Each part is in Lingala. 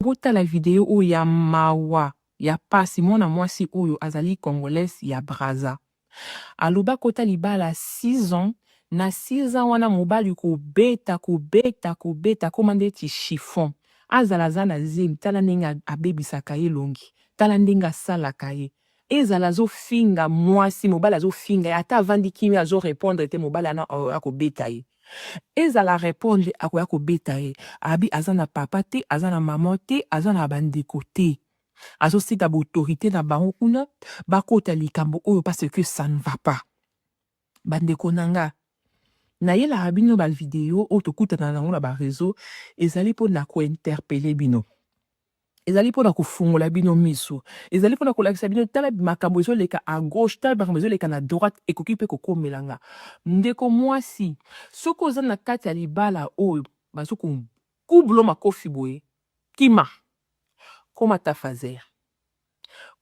Botala video oyo ya mawa ya pasi mwana mwasi oyo azali congolaise ya Brazza aloba kota libala six ans na six ans wana mobali kobeta kobeta kobeta akoma ndeti chiffon azala aza na zemi tala ndenge abebisaka ye elongi tala ndenge asalaka ye Ezala azo finga mwasi mobali azo finga ye ata avandi kimia azo repondre te mobali wana akoya kobeta ye ezala a repondre akoya kobeta ye abi aza na papa te aza na maman te aza na ba ndeko te azo sika ba autorite na bango kuna bakota likambo oyo parce que ça ne va pas ba ndeko na nga nayelaka bino ba video oyo tokutana na yango na ba reseau ezali mpo na ko interpelle bino Ezali mpo na kofungola bino miso. Ezali mpo na kolakisa bino, tala makambo ezoleka à gauche, tala makambo ezoleka na droite, ekoki mpe kokomela nga. Ndeko mwasi, soki oza na kati ya libala oyo bazo ko kublo makofi boye, kima. Koma ta phaser.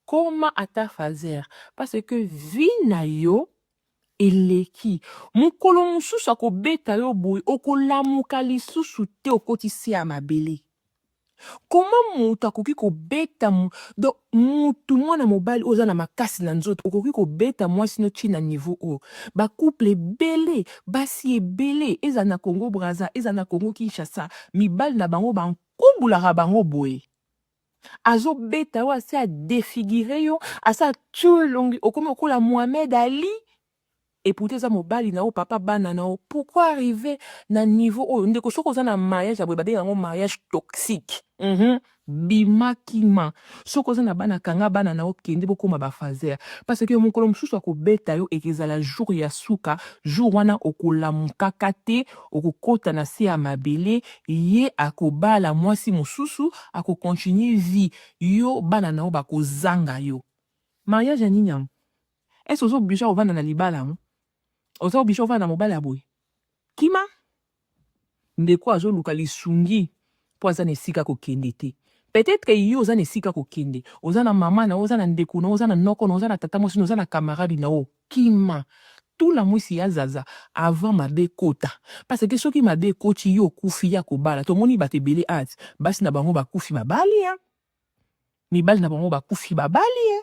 Koma ata phaser parce que vie na yo eleki mukolo mususu akobeta yo boye okolamuka lisusu te okoti se ya mabele comment mutu akoki kobeta donc mutu mwana mobali oza na makasi na nzoto okoki kobeta mwasi no ti na niveau oyo ba couple ebele basi ebele ezala na congo braza ezala na congo kinshasa mibali na bango ba nkubulaka bango boye azo beta yo asi a defigure yo asi atie elongi okomi okola Mohamed Ali et pourtant eza mobali na yo papa bana na yo pourquoi arriver na niveau oyo ndeko soki oza na mariage ya boye babenga yango mariage toxique mm bima kima soki oza na bana kanga bana na yo kende bokoma bafazer parce que mokolo mosusu akobeta yo ekezala jour ya suka jour wana okolamukaka te Okokota na se ya mabele ye akobala mwasi mosusu ako continue vie yo bana na yo bako zanga yo mariage ya nini yango est ce oza oblige kovanda na libala yango oza oblige kovanda na mobali ya boye kima ndeko azo luka lisungi. mpo aza na esika kokende te. Peut-etre yo oza na esika kokende, oza na mama na yo, oza na ndeko na yo, oza na noko na yo, oza na tata mwasi na yo, oza na camarade na yo, kima tula mwisi ya zaza avant mabe ekota parce que soki mabe ekoti yo okufi ya kobala tomoni bato ebele at basi na bango bakufi babali hein? mibali na bango bakufi babali hein?